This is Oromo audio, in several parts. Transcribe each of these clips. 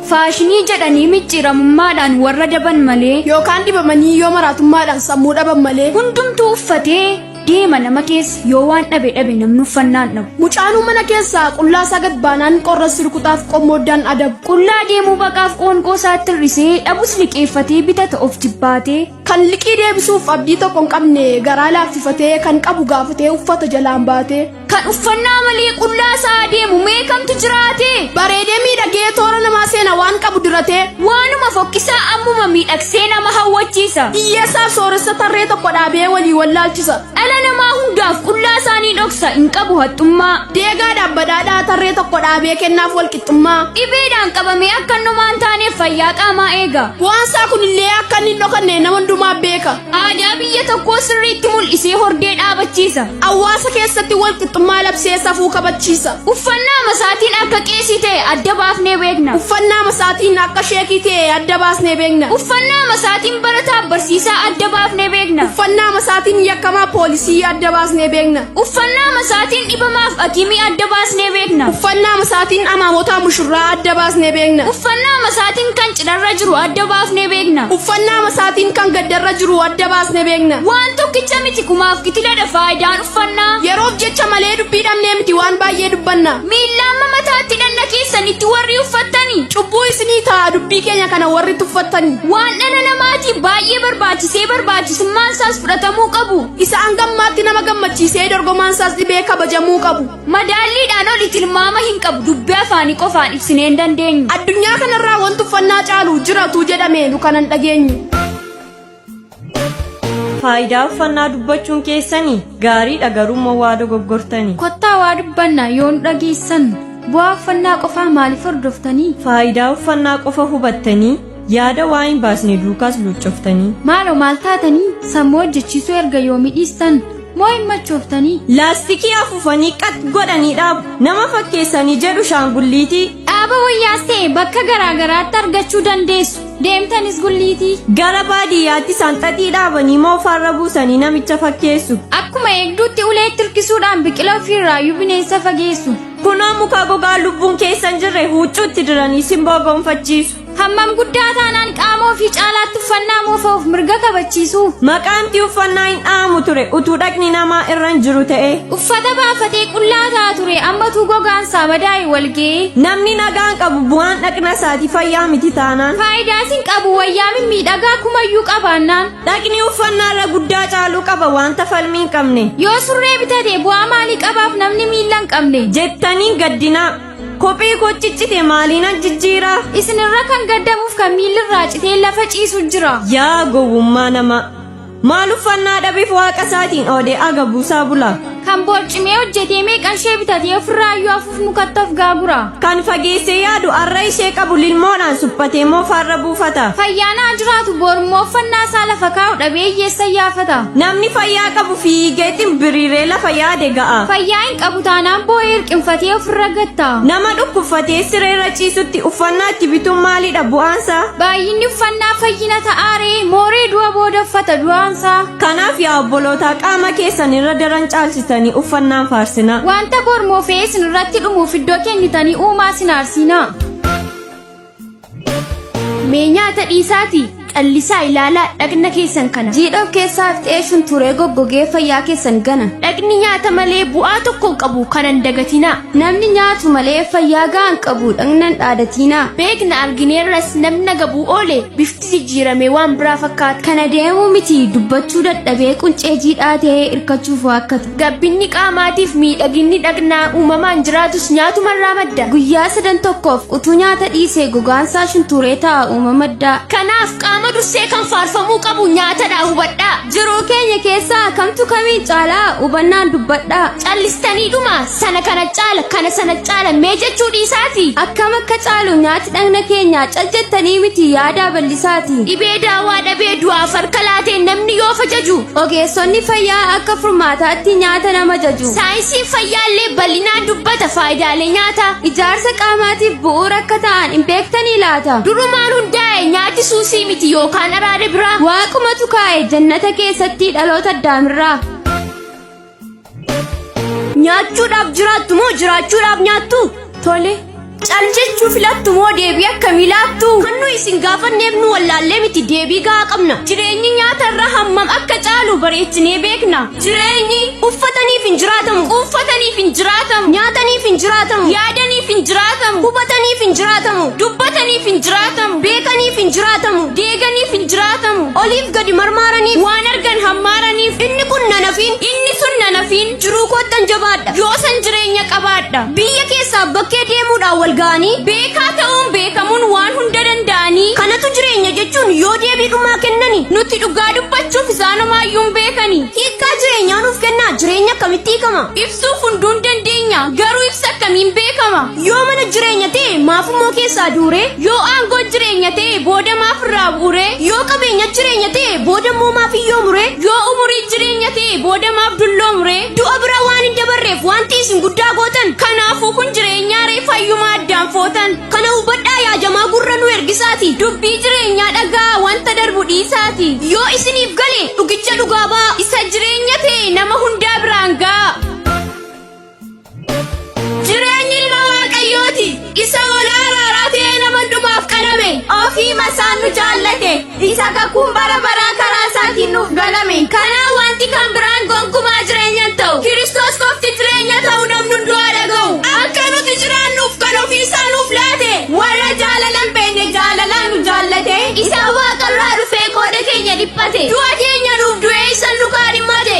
Faashinii jedhanii micciiramummaadhaan warra daban malee yookaan dibamanii yoo maraatummaadhaan sammuu dhaban malee hundumtuu uffatee deema nama keessa yoo waan dhabe dhabe namni uffannaan dhabu. Mucaanuu mana keessaa qullaa isaa gad baanaan qorra sirkutaaf qommooddaan adabu. Qullaa deemuu baqaaf qoonqoo isaatti hir'isee dhabus liqeeffatee bitata of jibbaatee. Kan liqii deebisuuf abdii tokko hin qabne garaa laaffifatee kan qabu gaafatee uffata jalaan baatee kan uffannaa malee qullaa isaa deemu mee kamtu jiraate bareedee miidhagee toora namaa seena waan qabu diratee waanuma fokkisaa ammuma miidhagsee nama hawwachiisa hiyyeessaaf sooressa tarree tokko dhaabee walii wallaalchisa dhala namaa hundaaf qullaa isaanii dhoksa hin qabu haxxummaa deegaadhaaf badhaadhaa tarree tokko dhaabee kennaaf walqixa. Mootummaa dhibeedhaan qabamee akka inni homaa hin taaneef fayyaa qaamaa eega. Bu'aan isaa kunillee akka inni hin dhokanne nama hundumaa beeka. Aadaa biyya tokkoo sirriitti mul'isee hordee dhaabachiisa. Hawaasa keessatti wal qixxummaa labsee safuu kabachiisa. Uffannaa masaatiin akka qeesii ta'e adda baafnee beekna. Uffannaa masaatiin akka sheekii ta'e adda baasnee beekna. Uffannaa masaatiin barataa barsiisaa adda baafnee beekna. Uffannaa masaatiin yakkamaa poolisii adda baasnee beekna. Uffannaa masaatiin dhibamaaf akimii adda baasnee beekna. Uffannaa masaatiin amaamotaa mushurraa adda baasnee beekna. Uffannaa masaatiin kan cidharra jiru adda baafnee beekna. Uffannaa masaatiin kan gaddarra jiru adda baasnee beekna. Waan tokkicha miti kumaaf kitiladha faayidaan uffannaa. Yeroof jecha malee dubbii dhabnee miti waan baay'ee dubbanna. Miillaamma mataatti dhanna keessanitti warri uffattani. Cubbuu isinii ta'a dubbii keenya kana warri tuffattani. Waan dhala namaatiif baay'ee barbaachisee barbaachisummaan isaas fudhatamuu qabu. Isa hangammaatti nama gammachiisee dorgomaan isaas dhibee kabajamuu qabu. Madaalliidhaan oli tilmaama hin qabu dubbii afaanii qofaan ibsinee hin dandeenyu. Addunyaa kanarraa wanti uffannaa caalu jiratu jedhame nu kanan dhageenyu. Faayidaa uffannaa dubbachuun keessanii gaariidha garuummoo waa dogoggortanii. Kottaa waa dubbanna yoo nu dhageessan bu'aa uffannaa qofaa maaliif hordoftanii? Faayidaa uffannaa qofa hubattanii Yaada waa hin baasne duukaas luuccoftanii. Maaloo maal taatanii sammuu hojjechiisuu erga yoomii dhiistan moo hin machooftanii? Laastikii afuufanii qat godhanii dhaabu. Nama fakkeessanii jedhu shaangulliitii. Dhaaba wayyaas ta'e bakka garaa garaatti argachuu dandeessu. Deemtanis gulliitii. Gara baadiyyaatti sanxaxii dhaabanii moo farra buusanii namicha fakkeessu. Akkuma eegduutti uleetti hirkisuudhaan biqila ofiirraayyuu bineensa fageessu. Kunoo muka gogaa lubbuun keessa hin jirre huuccuutti diranii simboo gonfachiisu. Hammam guddaa taanaan qaamoo fi caalaatti uffannaa moofa'uuf mirga kabachiisuu. Maqaanti uffannaa hin dha'amu ture utuu dhaqni namaa irra hin jiru ta'e. Uffata baafatee qullaa ta'a ture ammatuu gogaan isaa madaa'e walga'ee. Namni nagaan qabu bu'aan dhaqna isaati fayyaa miti taanaan. Faayidaas hin qabu wayyaa mimmiidhagaa kumayyuu qabaannaan. Dhaqni uffannaa irra guddaa caaluu qaba wanta falmii hin qabne. Yoo surree bitate bu'aa maalii qabaaf namni miilla hin qabne. Jettaniin gaddinaa. Kophee koo ciccite maaliinan jijjiira? Isinirra kan gaddamuuf kan miillirraa citee lafa ciisu jira. Yaa gowwummaa namaa! Maal uffannaa dhabeef waaqa isaatiin oodee aga buusaa bula? Kan boorcimee hojjetee meeqan ishee bitatee ofirraa iyyuu afuuf mukatti of gaagura. Kan fageessee yaadu arra ishee qabu lilmoodhaan suphatee moofaarra buufata. Fayyaan haa jiraatu boorummoo uffannaa isaa lafa kaa'u dhabee hiyyeessa iyyaafata. Namni fayyaa qabu fiigee ximbiriiree lafa yaade ga'a. Fayyaa qabu taanaan boo'ee hirqinfatee ofirra gatta. Nama dhukkubfatee siree irra ciisutti uffannaa itti bituun maalidha bu'aansaa? Baay'inni uffannaa fayyina ta'aaree mooree du'a booda uffata du'aansaa. Kanaaf yaa obbolootaa qaama keessan irra daran caalchitanii uffannaan faarsinaa. Wanta bor moofee isin irratti dhumuuf iddoo kennitanii uumaa isin aarsiinaa. Mee nyaata dhiisaatii callisaa ilaalaa dhaqna keessan kana. Jiidha of keessaa ifxeessuun turee goggogee fayyaa keessan gana. Dhaqni nyaata malee bu'aa tokko hin qabu kanan dagatinaa. Namni nyaatu malee fayyaa ga'aa hin qabu dhaqnan dhaadatinaa. Beekna argineerras namna gabuu oole bifti jijjiirame waan biraa fakkaata kana deemuu miti dubbachuu dadhabee quncee jiidhaa ta'ee hirkachuuf waakkatu gabbinni qaamaatiif miidhaginni dhaqnaa uumamaan jiraatus nyaatumarraa madda guyyaa sadan tokkoof utuu nyaata dhiisee gogaansaa shuntuuree ta'a uuma maddaa kanaaf qaama dursee kan faarfamuu qabu nyaatadha hubadhaa jiruu keenya keessaa kamtu kamiin caalaa hubannaan dubbadhaa callistanii dhumaa sana kana caala kana sana caala mee jechuu dhiisaati akkam akka caalu nyaati dhagna keenya cal jettanii miti yaadaa bal'isaati dhibee daawaa dhabee du'aaf harka laatee namni yoo fajaju ogeessonni fayyaa akka furmaataatti nyaata nama jaju saayinsiin fayyaallee bal'inaan dubbata faayidaalee nyaata ijaarsa qaamaatiif bu'uura akka ta'an hin beektanii laata durumaan hundaa'e nyaati suusii miti yookaan araada biraa waaqumatu kaa'e jannata keessatti dhaloota addaamirraa Nyaachuudhaaf jiraattu moo jiraachuudhaaf nyaattu? Tole. Cal jechuu filattu moo deebii akkamii laattu? Kan nu isin gaafanneef nu wallaallee miti deebii gahaa qabna. Jireenyi nyaata irra hammam akka caalu bareechinee beekna. Jireenyi uffataniif hin jiraatamu. Uffataniif hin jiraatamu. Nyaataniif hin jiraatamu. Yaadaniif hin jiraatamu. Hubataniif hin jiraatamu. Dubbataniif hin jiraatamu. Beekaniif hin jiraatamu. eeganiif hin jiraatamu oliif gadi marmaaraniif waan argan hammaaraniif inni kun nanafiin inni sun nanafiin jiruu koottan jabaadha yoosan jireenya qabaadha biyya keessaa bakkee deemuudhaan wal ga'anii beekaa ta'uun beekamuun waan hunda danda'anii kanatu jireenya jechuun yoo deebii dhumaa kennani nuti dhugaa dubbachuuf isaanumaayyuu hin beekani hiikkaa jireenyaa nuuf kennaa jireenya akkamitti hiikama ibsuuf hunduun dandeenya garuu ibsa akkamiin beekama Yoo mana jireenya ta'e maaf immoo keessaa duure? Yoo aangoo jireenya ta'e booda maaf irraa bu'ure? Yoo qabeenya jireenya ta'e booda immoo maaf iyyoo mure? Yoo umurii jireenya ta'e booda maaf dulloo mure? Du'a bira waan hin dabarreef wanti isin guddaa gootan kanaafuu kun jireenyaa ree fayyumaa addaan footan. Kana hubadhaa yaa jamaa gurra nu ergisaati dubbii jireenyaa dhagaa wanta darbu dhiisaati. Yoo isiniif gale dhugicha dhugaa ba'a isa jireenya ta'e nama hundaa biraan ga'a. Jireenyi ilma Waaqayyooti. Isa ol aaraaraa ta'ee nama hundumaaf qalame. Ofii masaan nu jaallate. Isa kakuun bara baraa karaa isaatiin nuuf galame. Kanaa wanti kan biraan gonkumaa jireenya hin ta'u. Kiristoos qofti jireenya ta'u namni hunduu haa dhaga'u. Akka nuti jiraannuuf kan ofii isaa nuuf laate. Warra jaalala hin beekne jaalalaan nu jaallate. Isa waaqarraa dhufee qooda keenya dhiphate. Du'a keenya nuuf du'ee isa nu kaadhimmate.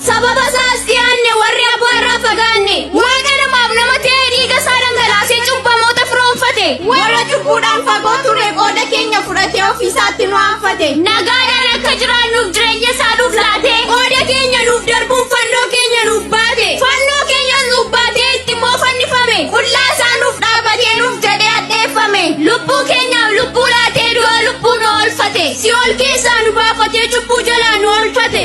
Sababa isaas dhiyaanne warri abbaa irraa fagaanne waaqa namaaf nama ta'ee dhiiga isaa dhangalaasee cubbamoota firoomfate warra cubbuudhaan fagoo ture qooda keenya fudhatee ofii isaatti nu aanfate nagaadhaan akka jiraannuuf jireenya isaa nuuf laate qooda keenya nuuf darbuun fannoo keenya nuuf baate fannoo keenyas nuuf baatee itti immoo fannifame qullaa isaa nuuf dhaabatee nuuf jedhee addeeffame lubbuu keenyaaf lubbuu laatee du'a lubbuu nu oolfate si'ool keessaa nu baafatee cubbuu jalaa nu oolfate.